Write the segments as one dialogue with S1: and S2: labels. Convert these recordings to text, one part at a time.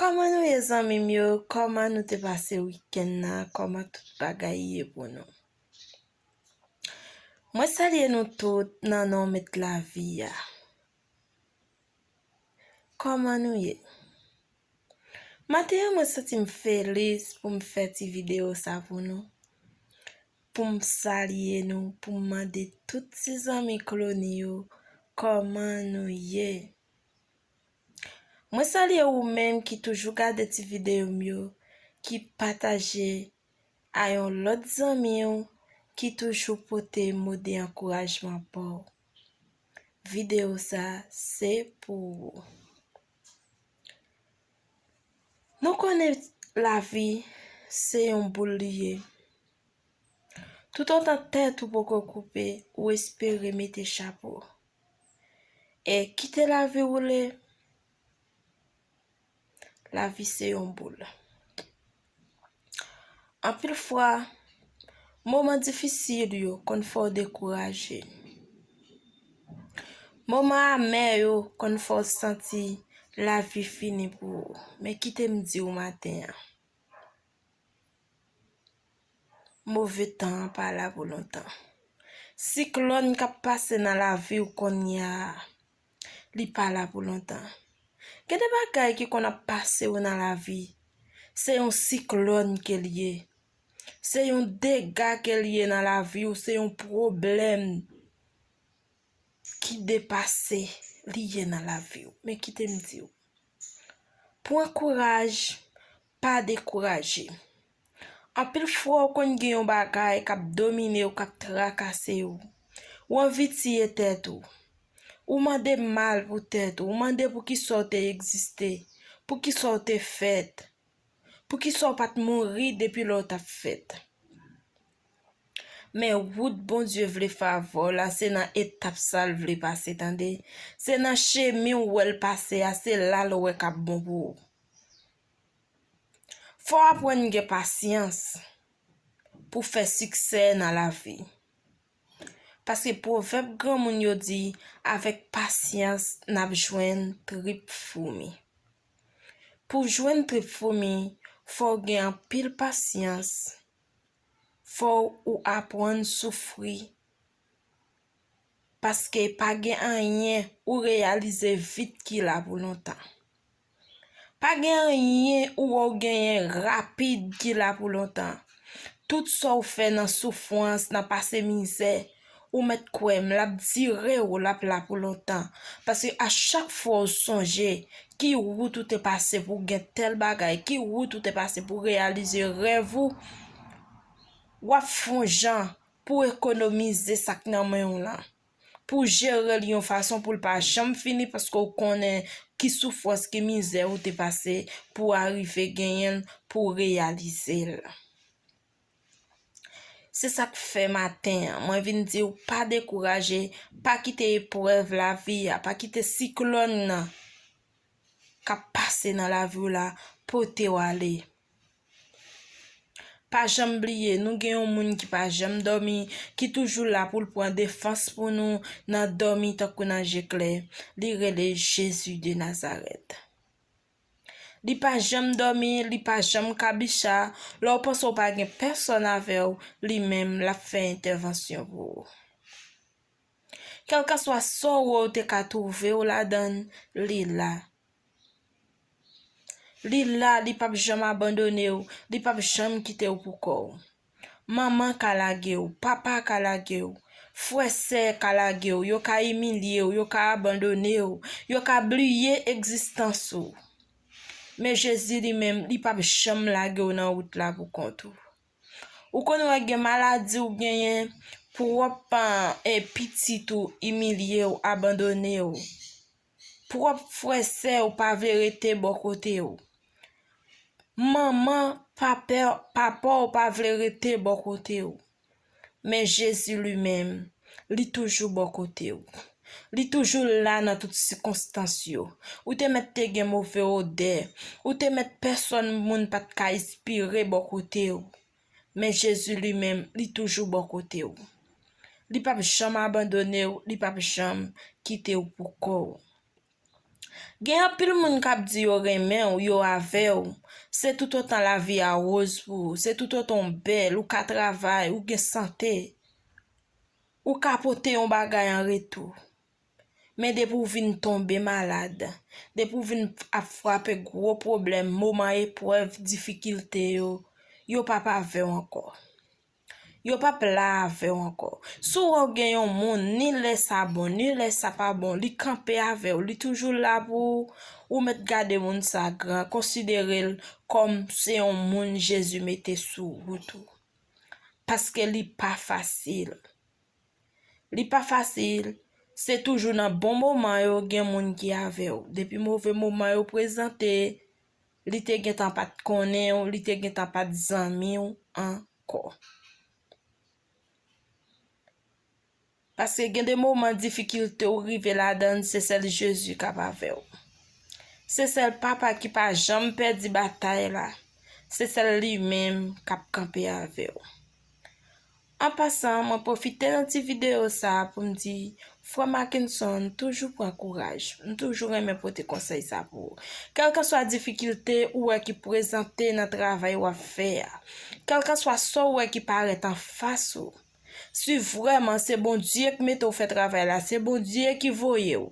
S1: Kòman nou ye zanmim yo kòman nou te pase wikenn nan kòman tout bagay ye pou nou mwen salye nou tout nan non met lavi a kòman nou ye maten an mwen santim felis poum fè ti video sa pou nou poum salye nou poum mande tout ti zanmi klony yo kòman nou ye. Mwen salye ou menm ki toujou gade ti videyo m yo, ki pataje a yon lòt zanmi w ki toujou pote mo de ankourajman ba w. Videyo sa se pou ou. Nou konnen lavi se yon boul li ye. Toutotan tèt ou poko koupe, ou espere mete chapo. E kite lavi woule Lavi se yon boul Anpil fwa Moman difisil yo konn fè w dekouraje Moman amè yo konn fè w santi Lavi fini pou ou Men kite m di w maten an Move tan an pa la pou lontan. Siklòn k ap pase nan lavi w kounye a, li pa la pou lontan. Gen de bagay ki konn ap pase w nan lavi, se yon siklòn ke l ye, se yon dega ke l ye nan lavi w, se yon pwoblèm ki depase li ye nan lavi w. Men kite m di w, pran kouraj, Pa dekouraje. Anpil fwa ou konn gen yon bagay k ap domine w, k ap trakase w. Ou anvi tiye tèt ou. Ou mande mal pou tèt ou. Ou mande poukisa w te egziste. Poukisa w te fèt. Poukisa w pa t mouri depi lè w t ap fèt. Men wout Bondye vle favè w la se nan etap sa l vle pase tande. Se nan chemen ou wè l pase a se la l wè k ap bon pou ou. Fò w aprann gen pasyans pou w fè siksè nan lavi. Paske pwovèb granmoun yo di avèk pasyans n ap jwenn trip foumi. Pou w jwenn trip foumi, fò w gen anpil pasyans, fò ou aprann soufri paske pa gen anyen ou reyalize vit ki la pou lontan. Pa gen anyen ou wè ou genyen rapid ki la pou lontan. Tout sa ou fè nan soufrans, nan pase mizè, ou mèt kwè m, l ap dire ou, l ap la pou lontan. Paske a chak fwa ou sonje ki wout ou te pase pou gen tèl bagay, ki wout ou te pase pou reyalize rèv ou, w ap fon jan pou w ekonomize sa k nan men w lan, pou w jere l yon fason pou l pa janm fini paske w konnen ki soufrans, ki mizè ou te pase pou w arive genyen l, pou w reyalize l. Se sa k fè maten an, mwen vin di w pa dekouraje, pa kite eprèv lavi a, pa kite siklòn nan k ap pase nan lavi w la pote w ale. Pa janm bliye nou gen yon moun ki pa janm dòmi, ki toujou la pou l pran defans pou nou nan dòmi tankou nan je klè. Li rele Jezi de Nazarèt. Li pa janm dòmi, li pa janm kabicha, lè w panse w pa gen pèsòn avè w, li menm l ap fè entèvansyon pou ou. Kèlkanswa sòro ou te ka twouve ou ladann, li la. Li la, li p ap janm abandone ou, li p ap janm kite ou pou kò ou. Manman ka lage ou, papa ka lage ou, frè sè ka lage ou, yo ka imilye ou, yo ka abandone ou, yo ka bliye egzistans ou. Men Jezi li menm, li p ap janm lage ou nan wout la pou kont ou. Ou konn wè gen maladi ou genyen, pwòp paran e pitit ou imilye ou abandone ou. Pwòp frè sè ou pa vle rete bò kote ou. Manman, papa ou pa vle rete bò kote ou. Men Jezi li menm, Li toujou bò kote ou. Li toujou la nan tout sikonstans yo. Ou te mèt te gen move odè. Ou te mèt pèsòn moun pa t ka espire bò kote ou. Men Jezi li menm, li toujou bò kote ou. Li pap janm abandone ou, li pap janm kite ou pou kò ou. Gen anpil moun k ap di yo renmen w, yo avè w, se toutotan lavi a woz pou ou, se toutotan w bèl, ou ka travay, ou gen sante, ou ka pote yon bagay an retou. Men depi w vin tonbe malad, depi w vin ap frape gwo pwoblèm, moman eprèv, difikilte yo, yo p ap avè w ankò. Yo pap la avèw ankò. Si w wè w gen yon moun ni lè sa bon ni lè sa pa bon li kanpe avèw li toujou la pou ou, ou mèt gade moun sa gran konsidere l kòm se yon moun Jezi mete sou wout ou. Paske li pa fasil. Li pa fasil, se toujou nan bon moman yo gen moun ki avèw. Depi move moman yo prezante, Li te gentan pa t konnen w, li te gentan pa t zanmi w ankò. Paske gen de moman difikilte ou rive ladan l, se sèl Jezi k ap avè w. Se sèl Papa ki pa janm pèdi batay la, se sèl li menm k ap kanpe avè w. An pasan mwen pwofite nan ti videyo sa pou m di frè Mackenson toujou pran kouraj, m toujou renmen pote konsèy sa pou ou. Kèlkanswa difikilte ou wè ki prezante nan travay w ap fè a, kèlkanswa sa w wè ki parèt anfas ou, si vrèman se Bondye k mete w fè travay la, se Bondye ki voye w,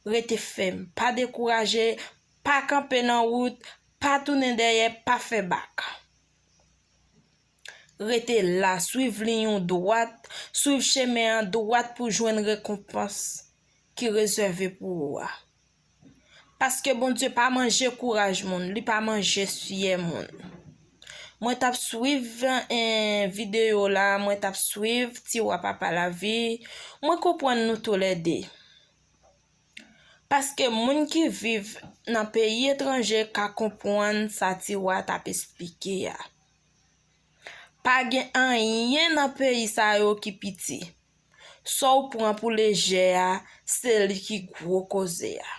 S1: rete fèm, pa dekouraje, pa kanpe nan wout, pa tounen dèyè, pa fè bak. Rete la, swiv liy ou dwat, swiv chemen an dwat pou jwenn rekonpans ki rezève pou ou a. Paske Bondye pa manje kouraj moun, li pa manje syè moun. Mwen tap swiv video la, mwen tap swiv tiwa papa lavi, mwen konprann nou tou lè de. Paske moun ki viv nan peyi etranje ka konprann sa tiwa tap esplike a. Pa gen anyen nan peyi sa yo ki piti. Sa w pran pou lejè a, se li ki gwo koze a.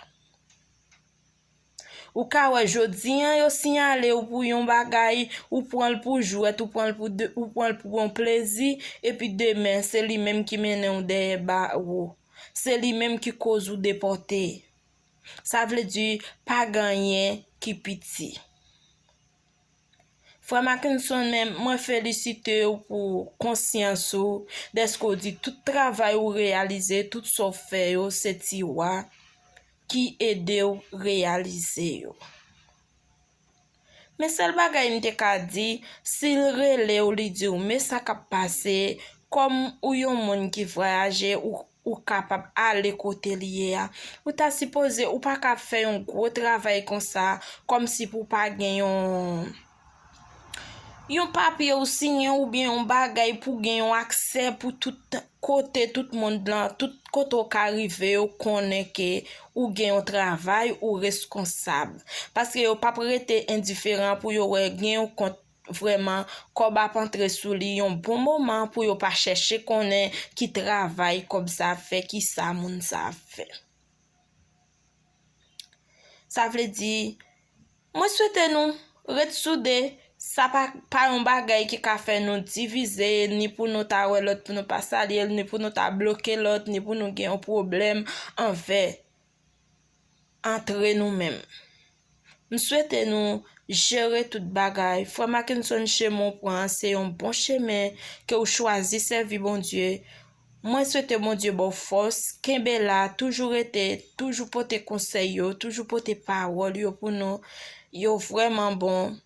S1: Ou ka wè jodi an yo siyale w pou yon bagay, ou pran l pou jwèt, ou pran l pou yon plezi, epi demen se li menm ki mennen w dèyè bawo. Se li menm ki koz ou depòte. Sa vle di pa gen anyen ki piti. Frè Mackenson men mwen felisite w pou konsyans ou dèske w di tout travay ou reyalize, tout sa w fè yo se ti wa ki ede w reyalize yo. Men sèl bagay m te ka di, si l rele w li di w men sa k ap pase, kòm ou yon moun ki vwayaje, Ou kapab ale kote li ye a. Ou ta sipoze ou pa ka ap fè yon gwo travay konsa kòm si pou w pa gen yon yon papye ou siyen oubyen yon bagay pou w gen yon aksè pou tout kote tout mond lan, tout kote w ka rive yo konnen ke ou gen yon travay ou reskonsab. Paske yo p ap rete endiferan pou yo wè gen yon kont Vrèman, kòb ap antre sou li yon bon moman pou yo pa chèche konnen ki travay kòb sa ap fè, ki sa moun sa ap fè. Sa vle di, mwen swete nou ret soude, sa pa pa yon bagay ki ka fè nou divize, ni pou nou ta wè lòt pou nou pa salye l, ni pou nou ta bloke lòt, ni pou nou gen yon pwoblèm anvè. antre nou menm. M swete nou jere tout bagay. Frè Mackenson chemen w pran an se yon bon chemen ke w chwazi sèvi Bondye. Mwen swete Bondye ba w fòs, kenbe la, toujou rete, toujou pote konsèy yo, toujou pote pawòl yo pou nou. Yo vrèman bon.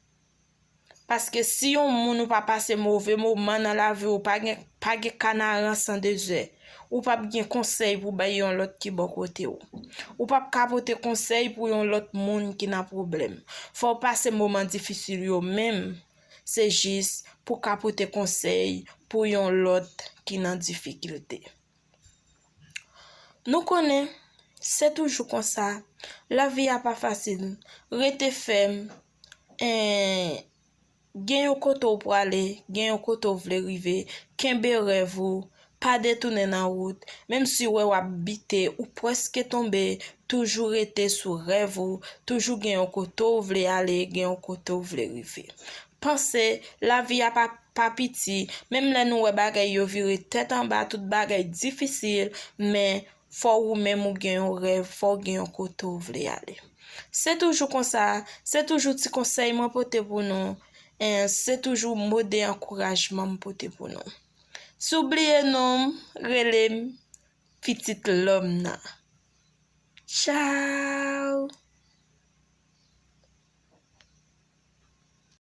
S1: Paske si yon moun ou pa pase move moman nan lavi ou pa gen pa gen kanaran san dezè. Ou pap gen konsèy pou bay yon lòt ki bò kote ou. Ou pap ka pote konsèy pou yon lòt moun ki nan pwoblèm. Fò w pase moman difisil yo menm se jis pou w ka pote konsèy pou yon lòt ki nan difikilte. Nou konnen se toujou konsa, lavi a pa fasil, rete fèm, en gen yon kote ou prale gen yon kote ou vle rive kenbe rèv ou pa detounen nan wout menm si ou wè wap bite ou preske tonbe toujou rete sou rèv ou toujou gen yon kote ou vle ale gen yon kote ou vle rive panse lavi a pa pa piti menm lè nou wè bagay yo vire tèt anba tout bagay difisil men Fò ou menm ou gen yon rèv, fò ou gen yon kote ou vle ale. Se toujou konsa, se toujou ti konsèy mwen pote pou nou, en se toujou mo de ankourajman m pote pou nou. Si w bliye non m, rele m pitit lòm nan. Tchao!